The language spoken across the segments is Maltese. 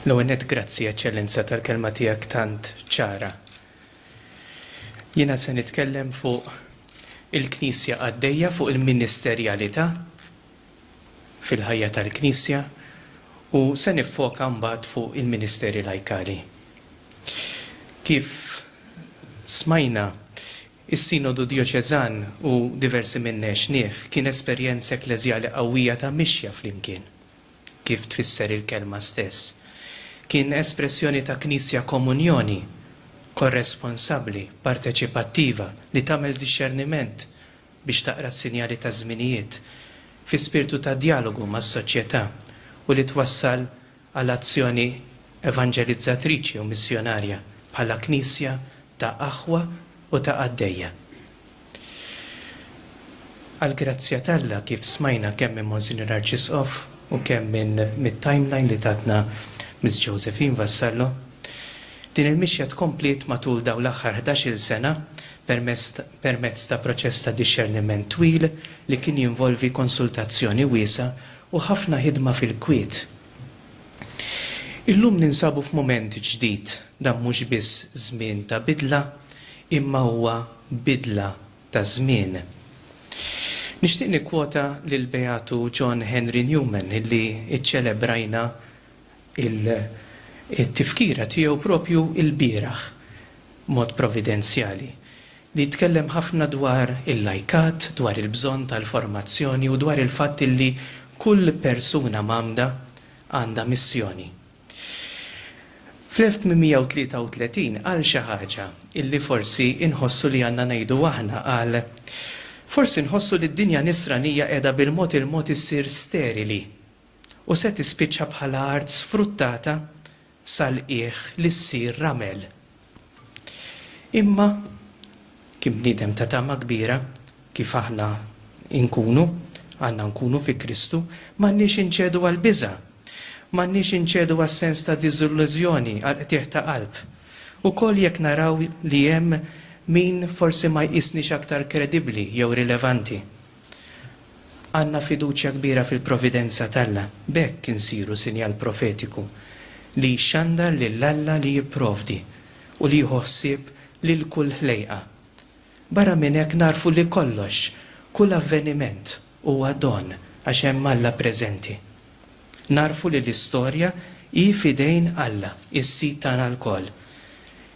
L-ewwel nett grazzi, Eċċellenza, tal-kelma tiegħek tant ċara. Jiena se nitkellem fuq il-Knisja qaddejja, fuq il-ministerjalità fil-ħajja tal-Knisja u se niffoka mbagħad fuq il-ministeri lajkali. Kif smajna, is-Sinodu Djoċeżan u diversi minna għexnieh kien esperjenza ekkleżjali qawwija ta' mixja flimkien. kif tfisser il-kelma stess, kien espressjoni ta' Knisja komunjoni, korresponsabbli, parteċipattiva, li tagħmel dixxerniment biex taqra s-sinjali taż-żminijiet, fi spirtu ta' djalogu mas-soċjetà, u li twassal għal azzjoni evanġelizzatriċi u missjonarja bħala Knisja ta' aħwa u ta' qaddejja. Għall-grazzja t'Alla, kif smajna kemm minn Monsinjur Arċisqof u kemm minn mit-timeline li tatna Miss Josephine Vassallo, din il-mixja tkompliet matul dawn l-aħħar ħdax-il sena permezz permezz ta' proċess ta' dixxerniment twil li kien jinvolvi konsultazzjoni wiesgħa u ħafna ħidma fil-kwiet. Illum ninsabu f'mument ġdid, dan mhux biss żmien ta' bidla, imma huwa bidla ta' żmien. Nixtieq nikkwota lill-Beatu John Henry Newman li ċċelebrajna t-tifkira tiegħu propju lbieraħ. b'mod providenzjali, li jitkellem ħafna dwar il-lajkat, dwar il-bżonn tal-formazzjoni u dwar il-fatt li kull persuna mgħammda għandha missjoni. Fl-1833 qal xi ħaġa li forsi nħossu li għandna ngħidu aħna, qal, Forsi nħossu li d-dinja Nisranija qiegħda bil-mod il-mod issir sterili u se tispiċċa bħala art sfruttata sal-qiegħ li ssir ramel. Imma, kien bniedem ta' tama kbira, kif aħna nkunu, għandna nkunu fi Kristu, m'għandniex inċedu għall-biża'. M'għandniex inċedu għas-sens ta' diżillużjoni, għall-qtigħ ta' qalb. Ukoll jekk naraw li hemm min forsi ma jqisniex aktar kredibbli jew rilevanti. Għandna fiduċja kbira fil-providenza t'Alla, b'hekk insiru sinjal profetiku li jxandar lil Alla li jipprovdi u li jieħu ħsieb lil kull ħlejqa. Barra minn hekk nagħrfu li kollox, kull avveniment, huwa don għax hemm Alla preżenti. Nagħrfu li l-istorja hi f'idejn Alla, is-Sid tagħna lkoll.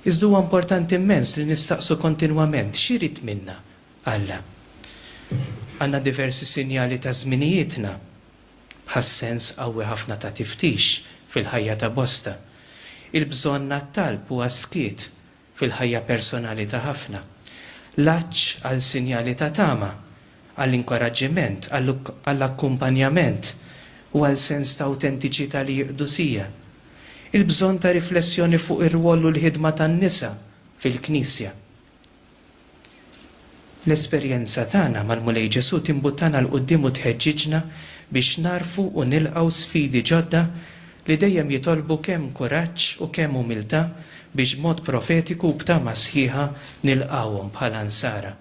Iżda huwa importanti mmens li nistaqsu kontinwament x'irid minna Alla. Għandna diversi sinjali ta' żminijietna, bħas-sens qawwi ħafna ta' tiftix fil-ħajja ta' bosta. Il-bżonn għat-talb u għas-skiet fil-ħajja personali ta' ħafna. L-għatx għal sinjali ta' tama, għall-inkoraġġiment, għall-akkumpanjament u għal sens ta' awtentiċità li jiqdu sija. Il-bżonn ta' riflessjoni fuq ir-rwol u l-ħidma tan-nisa fil-Knisja. L-esperjenza tagħna mal-Mulej Ġesù timbuttana 'l quddiem u tħeġġiġna biex nagħrfu u nilqgħu sfidi ġodda li dejjem jitolbu kemm kuraġġ u kemm umiltà biex b'mod profetiku u b'tama sħiħa nilqgħuhom bħala Nsara.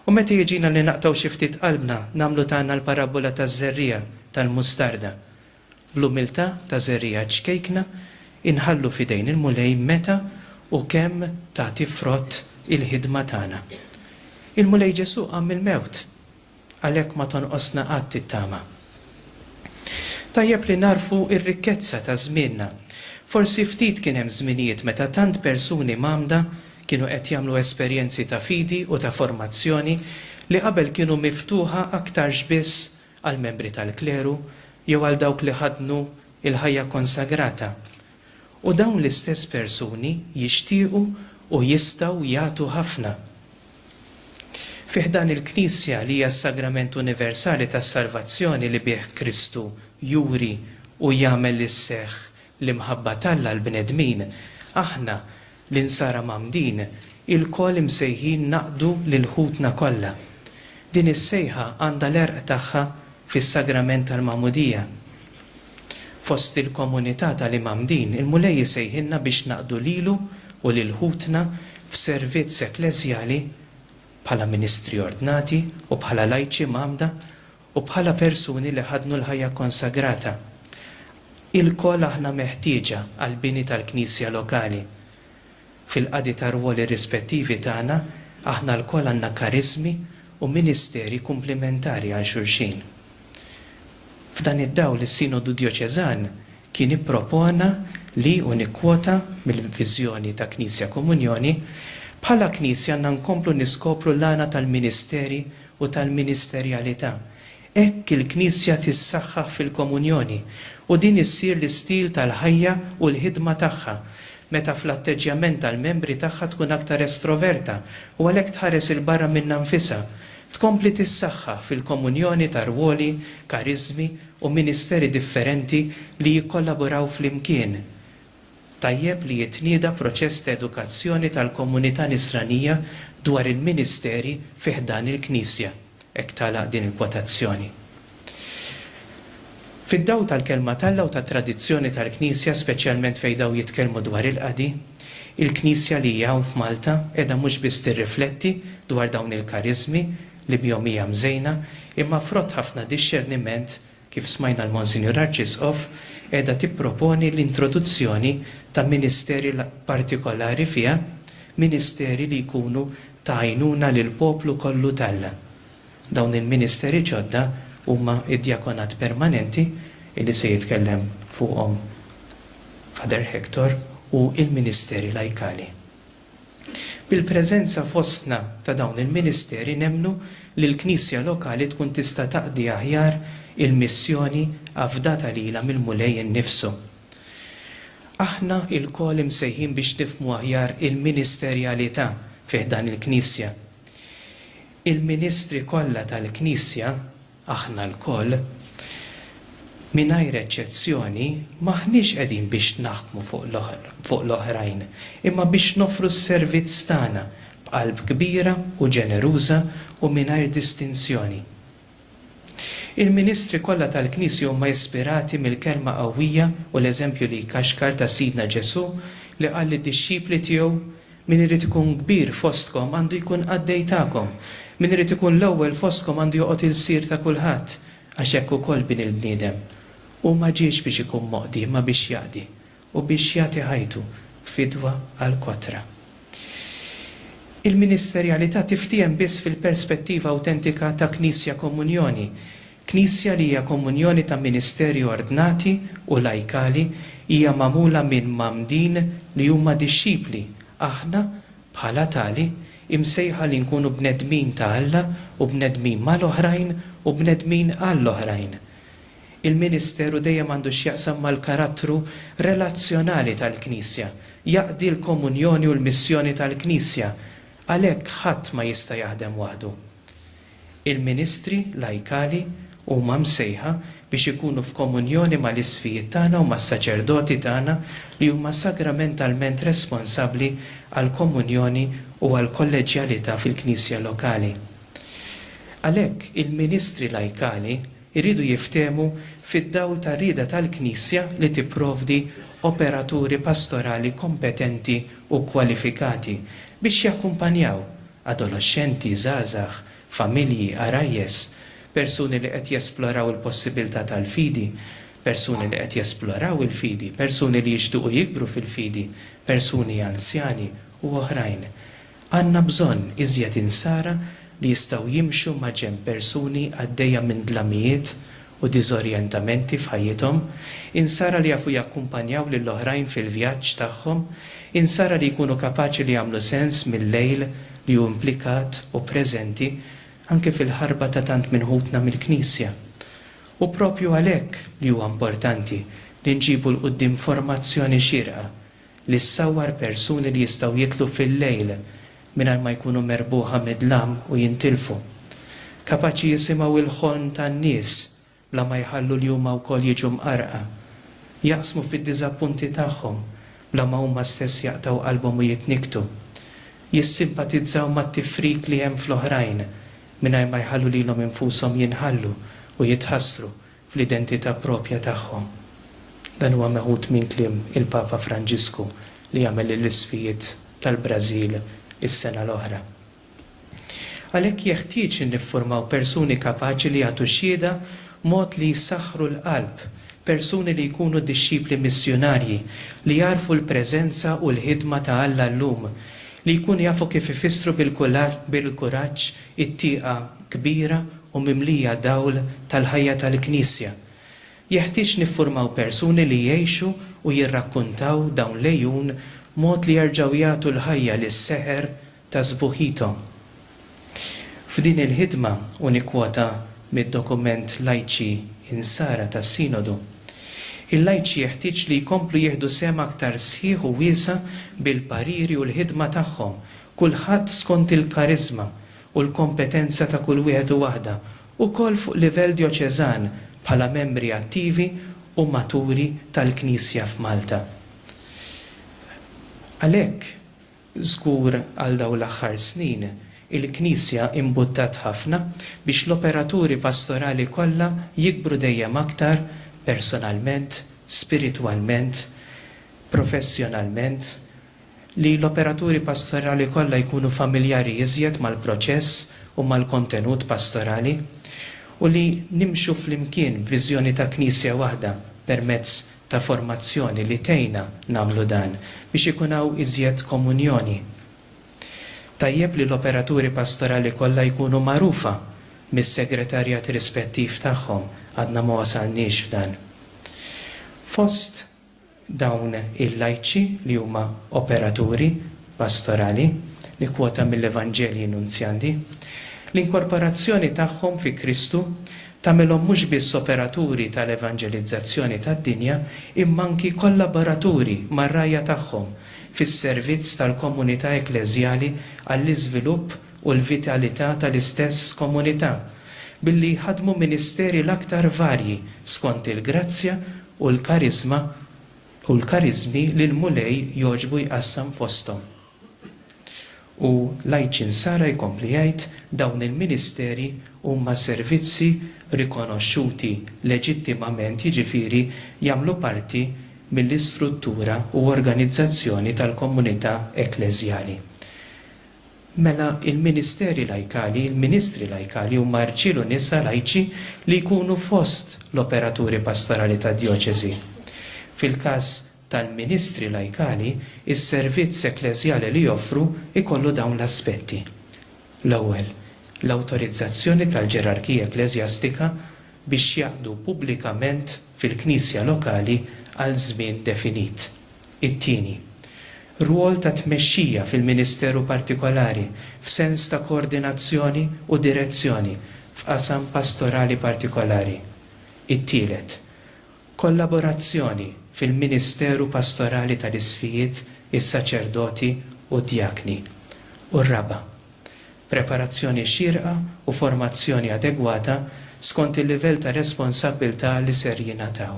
U meta jiġina li naqtgħu xi ftit qalbna, nagħmlu tagħna l-parabbola taż-żerriegħa tal-mustarda. Bl-umiltà ta' żerriegħa ċkejkna inħallu f'idejn il-Mulej meta u kemm tagħti frott il-ħidma tagħna. Il-Mulej Ġesù qam mill-mewt, għalhekk ma tonqosna qatt it-tama. Tajjeb li nagħrfu r-rikkezza ta' żmienna. Forsi ftit kien hemm żminijiet meta tant persuni mgħammda kienu qed jagħmlu esperjenzi ta' fidi u ta' formazzjoni li qabel kienu miftuħa aktarx biss għall-membri tal-kleru jew għal dawk li ħaddnu l-ħajja konsagrata, u dawn l-istess persuni jixtiequ u jistgħu jagħtu ħafna. Fi ħdan il-Knisja, li hija s-sagrament universali tas-salvazzjoni li bih Kristu juri u jagħmel li sseħħ l-imħabba t'Alla għall-bnedmin, aħna, L-Insara Mgħammdin ilkoll imsejħin naqdu lil ħutna kollha. Din is-sejħa għandha l-għerq tagħha fis-Sagrament tal-Magħmudija. Fost il-komunità tal-Imgħammdin, il-Mulej isejħilna biex naqdu lilu u lil ħutna f'servizz ekkleżjali bħala ministri ordnati u bħala lajċi mgħammda u bħala persuni li ħadnu l-ħajja kkonsagrata. Ilkoll aħna meħtieġa għall-bini tal-Knisja lokali. Fil-qadi tar-rwoli rispettivi tagħna, aħna lkoll għandna kariżmi u ministeri kumplimentari għal xulxin. F'dan id-dawl is-Sinodu Djoċeżan kien ippropona li, u nikkwota mill-viżjoni ta' Knisja Komunjoni, Bħala Knisja għandna nkomplu niskopru l-għana tal-ministeri u tal-ministerjalità. Hekk il-Knisja tissaħħaħ fil-komunjoni u din issir l-istil tal-ħajja u l-ħidma tagħha, meta fl-atteġġjament tal-membri tagħha tkun aktar estroverta u għalhekk tħares 'il barra minnha nfisha, tkompli tissaħħaħ fil-komunjoni ta' rwoli, kariżmi u ministeri differenti li jikkollaboraw flimkien. Tajjeb li jitnieda proċess ta' edukazzjoni tal-komunità Nisranija dwar il-ministeri fi ħdan il-Knisja. Hekk tagħlaq din il-kwotazzjoni. Fid-dawl tal-Kelma t'Alla u tat-tradizzjoni tal-Knisja, speċjalment fejn dawn jitkellmu dwar il-qadi, il-Knisja li hija hawn f'Malta qiegħda mhux biss tirrifletti dwar dawn il-kariżmi li bihom hija mżejna, imma frott ħafna dixxerniment, kif smajna l-Monsinjur Arċisqof, qiegħda tipproponi l-introduzzjoni ta' ministeri partikolari fiha, ministeri li jkunu ta' għajnuna lill-poplu kollu t'Alla. Dawn il-ministeri ġodda huma d-djakonat permanenti, li se jitkellem fuqhom Father Hector, u l-ministeri lajkali. Bil-preżenza fostna ta' dawn il-ministeri nemmnu li l-Knisja lokali tkun tista' taqdi aħjar il-missjoni afdata lilha mill-Mulej innifsu. Aħna ilkoll imsejħin biex nifhmu aħjar il-ministerjalità fi ħdan il-Knisja. Il-ministri kollha tal-Knisja, Aħna lkoll, mingħajr eċċezzjoni, m'aħniex qegħdin biex naħkmu fuq l-oħrajn, imma biex noffru s-servizz tagħna b'qalb kbira u ġeneruża u mingħajr distinzjoni. Il-ministri kollha tal-Knisja huma ispirati mill-kelma qawwija u l-eżempju li jkaxkar ta' Sidna Ġesù li qal lid-dixxipli tiegħu, Min irid ikun kbir fostkom għandu jkun qaddej tagħkom, min irid ikun l-ewwel fostkom għandu joqgħod ilsir ta' kulħadd, għax hekk ukoll Bin il-bniedem. Hu ma ġiex biex ikun moqdi, imma biex jaqdi, u biex jagħti ħajtu fidwa għall-kotra. Il-ministerjalità tiftiehem biss fil-perspettiva awtentika ta' Knisja Komunjoni, Knisja li hija komunjoni ta' ministeri ordnati u lajkali hija magħmula minn mgħammdin li huma dixxipli, aħna, bħala tali, imsejħa li nkunu bnedmin ta' Alla u bnedmin mal-oħrajn u bnedmin għall-oħrajn. Il-ministeru dejjem għandu x'jaqsam mal-karattru relazzjonali tal-Knisja, jaqdi l-komunjoni u l-missjoni tal-Knisja, għalhekk ħadd ma jista' jaħdem waħdu. Il-ministri lajkali huma msejħa biex ikunu f'komunjoni mal-isqfijiet tagħna u mas-saċerdoti tagħna li huma sagramentalment responsabbli għall-komunjoni u għall-kolleġġjalità fil-Knisja lokali. Għalhekk, il-ministri lajkali jridu jiftehmu fid-dawl tar-rieda tal-Knisja li tipprovdi operaturi pastorali kompetenti u kkwalifikati biex jakkumpanjaw adoloxxenti, żgħażagħ, familji, għarajjes, persuni li qed jesploraw il-possibiltà tal-fidi, persuni li qed jesploraw il-fidi, persuni li jixtiequ jikbru fil-fidi, persuni anzjani, u oħrajn. Għandna bżonn iżjed insara li jistgħu jimxu maġenb persuni għaddejja minn dlamijiet u diżorjentamenti f'ħajjithom, insara li jafu jakkumpanjaw lil oħrajn fil-vjaġġ tagħhom, insara li jkunu kapaċi li jagħmlu sens mil-lejl li hu implikat u preżenti anke fil-ħarba ta' tant minn ħutna mill-Knisja. Hu proprju għalhekk li huwa importanti li nġibu 'l quddiem formazzjoni xierqa li ssawwar persuni li jistgħu jidħlu fil-lejl mingħajr ma jkunu merbuħa mid-dlam u jintilfu. Kapaċi jisimgħu l-ħolm tan-nies bla ma jħallu li huma wkoll jiġu mqarrqa. Jaqsmu fid-diżappunti tagħhom bla ma huma stess jaqtgħu qalbhom u jitnikktu. Jissimpatizzaw mat-tifrik li hemm fl-oħrajn mingħajr ma jħallu lilhom infushom jinħallu u jitħassru fl-identità proprja tagħhom. Dan huwa meħud minn kliem il-Papa Franġisku li għamel lill-isfijiet tal-Brażil is-sena l-oħra. Għalhekk jeħtieġ li niffurmaw persuni kapaċi li jagħtu xhieda b'mod li jsaħħru l-qalb, persuni li jkunu dixxipli missjunarji, li jagħrfu l-preżenza u l-ħidma ta' Alla llum, li jkunu jafu kif ifissru bil-kuraġġ it-tieqa kbira u mimlija dawl tal-ħajja tal-Knisja. Jeħtieġ niffurmaw persuni li jgħixu u jirrakkuntaw dawn l-għejun mod li jerġgħu jagħtu l-ħajja lis-seħer ta' sbuħithom. F'din il-ħidma, u nikkwota mid-dokument Lajċi Insara tas-Sinodu, il-lajċi jeħtieġ li jkomplu jieħdu sehem aktar sħiħ u wiesa' bil-pariri u l-ħidma tagħhom kulħadd skont il-kariżma u l-kompetenza ta' kull wieħed u waħda, ukoll fuq livell djoċeżan bħala membri attivi u maturi tal-Knisja f'Malta. Għalhekk, żgur għal dawn l-aħħar snin, il-Knisja imbuttat ħafna biex l-operaturi pastorali kollha jikbru dejjem aktar personalment, spiritwalment, professjonalment, Li l-operaturi pastorali kollha jkunu familjari iżjed mal-proċess u mal-kontenut pastorali, u li nimxu flimkien b'viżjoni ta' Knisja waħda permezz ta' formazzjoni li tgħinna nagħmlu dan, biex ikun hawn iżjed komunjoni. Tajjeb li l-operaturi pastorali kollha jkunu magħrufa mis-segretarjat rispettiv tagħhom, għadna ma wasalniex f'dan. Fost. Dawn il-lajċi li huma operaturi pastorali, nikkwota mill-Evanġelji Nunzjandi, l-inkorporazzjoni tagħhom fi Kristu tagħmilhom mhux biss operaturi tal-evanġelizzazzjoni tad-dinja imma anki kollaboraturi mar-rgħajja tagħhom fis-servizz tal-komunità ekkleżjali għall-iżvilupp u l-vitalità tal-istess komunità billi jħaddmu ministeri l-aktar varji skont il-grazzja u l-kariżma u l-kariżmi li l-Mulej jogħġbu jqassam fosthom. U l-Għajċin Sara jkompli jgħid, Dawn il-ministeri huma servizzi rikonoxxuti leġittimament jiġifieri jagħmlu parti mill-istruttura u organizzazzjoni tal-komunità ekkleżjali. Mela, il-ministeri lajkali, il-ministri lajkali huma rġiel u nisa lajċi li jkunu fost l-operaturi pastorali tad-djoċesi. Fil-każ tal-ministri lajkali, is-servizz ekkleżjali li joffru jkollu dawn l-aspetti. L-ewwel, l-awtorizzazzjoni tal-ġerarkija ekkleżjastika biex jaqdu pubblikament fil-knisja lokali għal żmien definit. It-tieni, rwol ta' tmexxija fil-ministeru partikolari f'sens ta' koordinazzjoni u direzzjoni f'qasam pastorali partikolari. It-tielet, kollaborazzjoni fil-ministeru pastorali tal-isqfijiet, is-saċerdoti u d-djakni. U r-raba', preparazzjoni xierqa u formazzjoni adegwata skont il-livell ta' responsabbiltà li ser jingħataw.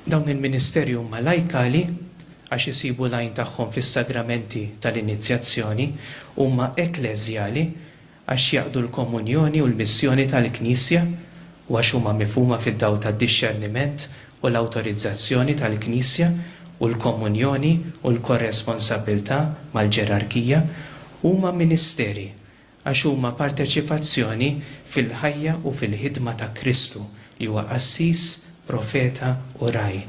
Dawn il-ministeri huma lajkali għax isibu l-għajn tagħhom fis-sagramenti tal-inizjazzjoni, huma ekkleżjali għax jaqdu l-komunjoni u l-missjoni tal-Knisja u għax huma mifhuma fid-dawl tad-dixxerniment u l-awtorizzazzjoni tal-Knisja u l-komunjoni u l-korresponsabbiltà mal-ġerarkija, huma ministeri għax huma parteċipazzjoni fil-ħajja u fil-ħidma ta' Kristu, li huwa qassis, profeta u ragħaj.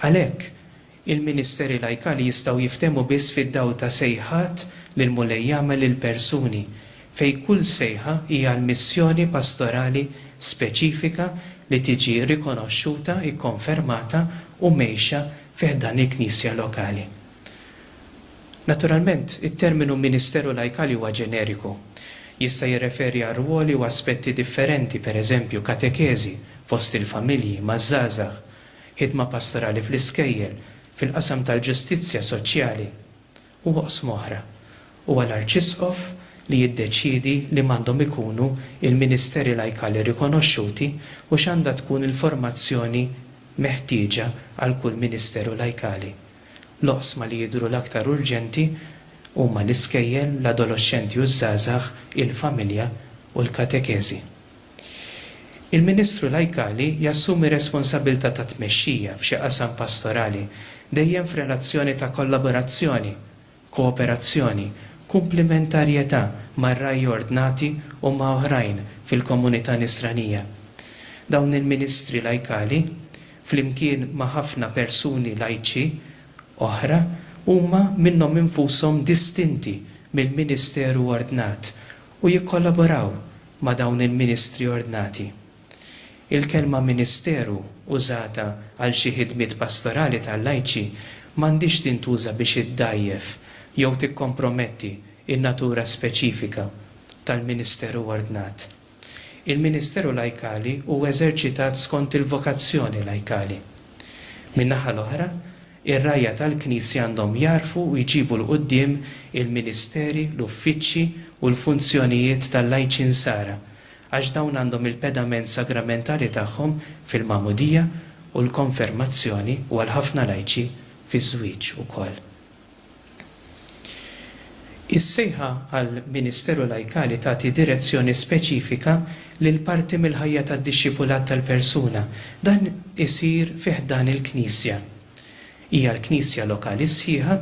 Għalhekk, il-ministeri lajkali jistgħu jiftehmu biss fid-dawl ta' sejħat li l-Mulej jagħmel lill-persuni, fejn kull sejħa hi għal missjoni pastorali speċifika li tiġi rikonoxxuta, ikkonfermata u mgħejxa fi ħdan il-Knisja lokali. Naturalment, it-terminu ministeru lajkali huwa ġeneriku. Jista' jirreferi għal rwoli u aspetti differenti, per eżempju, katekeżi fost il-familji, maż-żgħażagħ, ħidma pastorali fl-iskejjel, fil-qasam tal-ġustizzja soċjali, u oqsma oħra. Huwa l-arċisqof li jiddeċiedi liema għandhom ikunu l-ministeri lajkali rikonoxxuti u x'għandha tkun il-formazzjoni meħtieġa għal kull ministeru lajkali. L-oqsma li jidhru l-aktar urġenti huma l-iskejjel, l-adoloxxenti u ż-żgħażagħ, il-familja u l-katekeżi. Il-Ministru Lajkali jassumi responsabilità ta' tmexxija f'xi qasam pastorali, dejjem f'relazzjoni ta' kollaborazzjoni kooperazzjoni, kumplimentarjetà mar-ragħaj ordnati u ma' oħrajn fil-komunità Nisranija. Dawn il-ministri lajkali, flimkien ma' ħafna persuni lajċi oħra, huma minnhom infushom distinti mill-ministeru ordnat u jikkollaboraw ma' dawn il-ministri ordnati. Il-kelma ministeru użata għal xi ħidmiet pastorali ta' lajċi m'għandhiex tintuża biex iddgħajjef jew tikkomprometti n-natura speċifika tal-ministeru ordnat. Il-ministeru lajkali hu eżerċitat skont il-vokazzjoni lajkali. Min-naħa l-oħra, ir-rgħajja tal-Knisja għandhom jagħrfu u jġibu 'l quddiem il-ministeri, l-uffiċċji u l-funzjonijiet tal-lajċi Nsara għax dawn għandhom il-pedament sagramentali tagħhom fil-magħmudija u l-konfermazzjoni u għal ħafna lajċi fiż-żwieġ ukoll. Is-sejħa għal ministeru lajkali tagħti direzzjoni speċifika lil parti mill-ħajja tad-dixxipulat tal-persuna. Dan isir fi ħdan il-Knisja. Hija l-Knisja lokali sħiħa,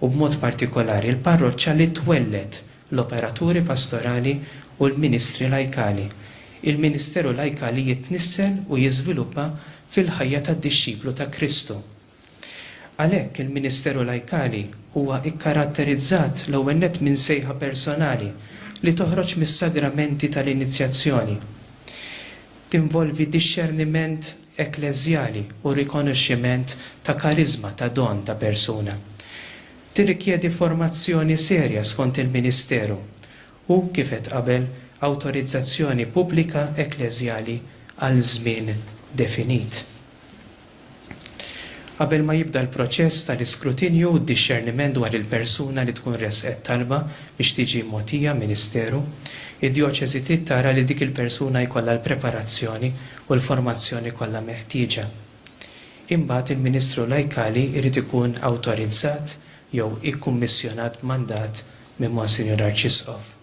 u b'mod partikolari l-parroċċa li twelled l-operaturi pastorali u l-ministri lajkali, il-ministeru lajkali jitnissel u jiżviluppa fil-ħajja tad-dixxiplu ta' Kristu. Għalhekk, il-ministeru lajkali huwa kkaratterizzat l-ewwel nett minn sejħa personali li toħroġ mis-sagramenti tal-inizjazzjoni. Tinvolvi dixxerniment ekkleżjali u rikonoxximent ta' kariżma, ta' don ta' persuna. Tirrikjedi formazzjoni serja skont il-ministeru u, kif għedt qabel, awtorizzazzjoni pubblika ekkleżjali għal żmien definit. Qabel ma jibda l-proċess tal-iskrutinju u d-dixxerniment dwar il-persuna li tkun ressqet talba biex tiġi mogħtija ministeru, id-djoċesi trid tara li dik il-persuna jkollha l-preparazzjoni u l-formazzjoni kollha meħtieġa. Imbagħad il-Ministru Lajkali jrid ikun awtorizzat jew ikkummissjonat b'mandat minn Monsinjur Arċisqof.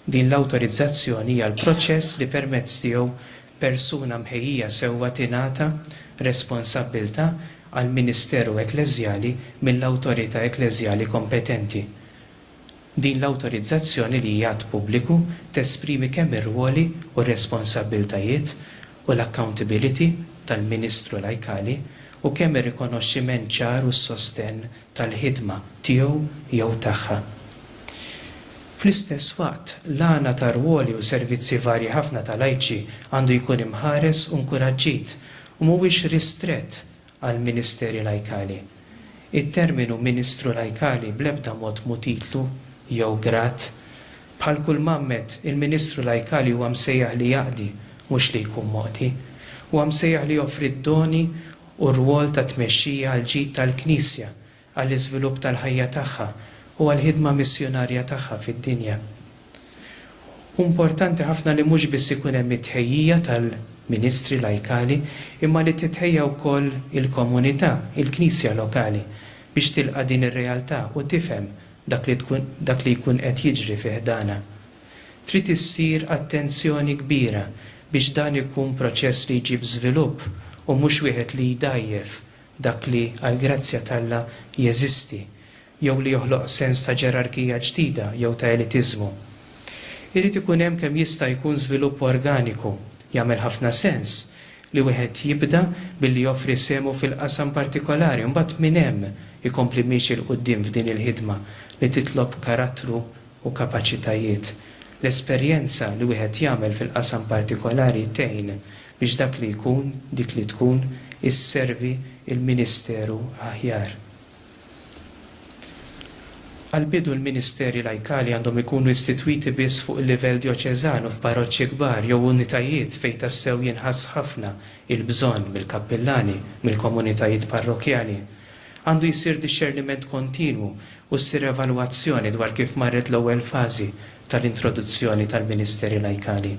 Din l-awtorizzazzjoni hija l-proċess li permezz tiegħu persuna mħejjija sewwa tingħata responsabbiltà għall-ministeru ekkleżjali mill-awtorità ekkleżjali kompetenti. Din l-awtorizzazzjoni li hija att pubbliku tesprimi kemm ir-rwoli u r-responsabbiltajiet u l-accountability tal-Ministru Lajkali u kemm ir-rikonoxximent ċar u s-sostenn tal-ħidma tiegħu jew tagħha. Fl-istess waqt, l-għana ta' rwoli u servizzi varji ħafna ta' lajċi għandu jkun imħares u nkuraġġit u mhuwiex ristrett għall-ministeri lajkali. It-terminu ministru lajkali bl-ebda mod mhu titlu jew grad. Bħal kull mgħammed, il-ministru lajkali huwa msejjaħ li jaqdi, mhux li jkun moqdi. Huwa msejjaħ li joffri d-doni u r-rwol ta' tmexxija għall-ġid tal-Knisja, għall-iżvilupp tal-ħajja tagħha u għall-ħidma missjunarja tagħha fid-dinja. Hu importanti ħafna li mhux biss ikun hemm it-tħejjija tal-ministri lajkali imma li titħejja wkoll il-komunità, il-knisja lokali, biex tilqa' din ir-realtà u tifhem dak li tkun dak li jkun qed jiġri fi ħdanha. Trid issir attenzjoni kbira biex dan ikun proċess li jġib żvilupp u mhux wieħed li jdgħajjef dak li għall-grazzja t'Alla jeżisti jew li joħloq sens ta' ġerarkija ġdida jew ta' elitiżmu. Irid ikun hemm kemm jista' jkun żvilupp organiku. Jagħmel ħafna sens li wieħed jibda billi joffri sehmu fil-qasam partikolari u mbagħad minn hemm ikompli miexi 'l quddiem f'din il-ħidma li titlob karattru u kapaċitajiet. L-esperjenza li wieħed jagħmel fil-qasam partikolari tgħin biex dak li jkun, dik li tkun, isservi l-ministeru aħjar. Għall-bidu l-ministeri lajkali għandhom ikunu istitwiti biss fuq il-livell djoċeżan u f'parroċċi kbar jew unitajiet fejn tassew jinħass ħafna il-bżonn mill-kappillani, mill-komunitajiet parrokkjali. Għandu jsir dixxerniment kontinwu u ssir evalwazzjoni dwar kif marret l-ewwel fażi tal-introduzzjoni tal-ministeri lajkali.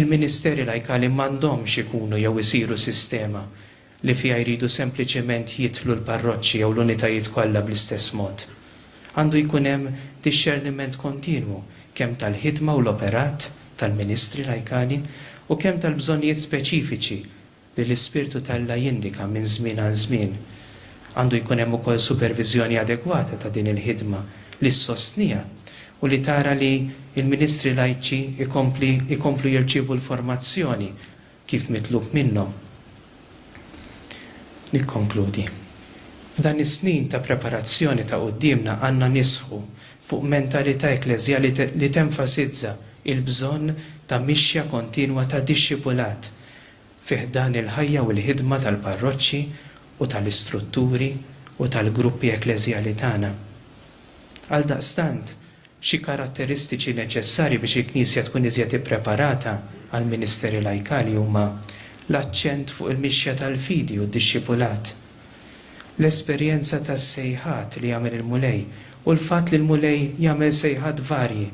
Il-ministeri lajkali m'għandhomx ikunu jew isiru sistema li fiha jridu sempliċement jidħlu l-parroċċi jew l-unitajiet kollha bl-istess mod. Għandu jkun hemm dixxerniment kontinwu kemm tal-ħidma u l-operat tal-ministri lajkani u kemm tal-bżonnijiet speċifiċi li l-ispirtu t'Alla jindika minn żmien għal żmien. Għandu jkun hemm ukoll superviżjoni adegwata ta' din il-ħidma li ssostniha u li tara li l-ministri lajċi jkompli jkomplu jirċievu l-formazzjoni kif mitlub minnhom. Nikkonkludi. F'dan is-snin ta' preparazzjoni ta' quddiemna għandna nisħu fuq mentalità ekkleżjali li tenfasizza l-bżonn ta' mixja kontinwa ta' dixxipulat fi ħdan il-ħajja u l-ħidma tal-parroċċi u tal-istrutturi u tal-gruppi ekkleżjali tagħna. Għaldaqstant, Xi karatteristiċi neċessarji biex il-Knisja tkun iżjed ippreparata għall-ministeri lajkali huma l-aċċent fuq il-mixja tal-fidi u d-dixxipulat, l-esperjenza tas-sejħat li jagħmel il-Mulej u l-fatt li l-Mulej jagħmel sejħat varji,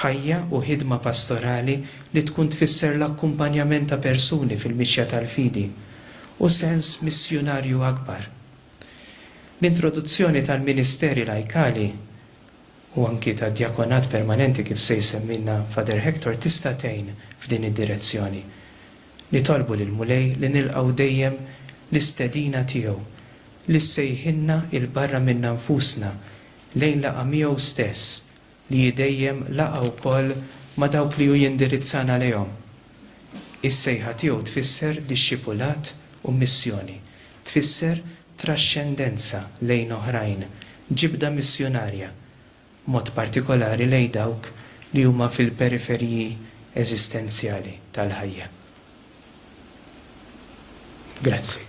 ħajja u ħidma pastorali li tkun tfisser l-akkumpanjament ta' persuni fil-mixja tal-fidi, u sens missjunarju akbar. L-introduzzjoni tal-ministeri lajkali, u anki tad-djakonat permanenti kif se jsemmilna Father Hector tista' tgħin f'din id-direzzjoni. Nitolbu lill-Mulej li nilqgħu dejjem l-istedina tiegħu li ssejħilna 'il barra minna nfusna lejn laqgħa miegħu stess li hi dejjem laqgħa wkoll ma' dawk li hu jindirizzana għalihom. Is-sejħa tiegħu tfisser dixxipulat u missjoni, tfisser traxxendenza lejn oħrajn, ġibda missjunarja, b'mod partikolari lejn dawk li huma fil-periferiji eżistenzjali tal-ħajja. Grazzi.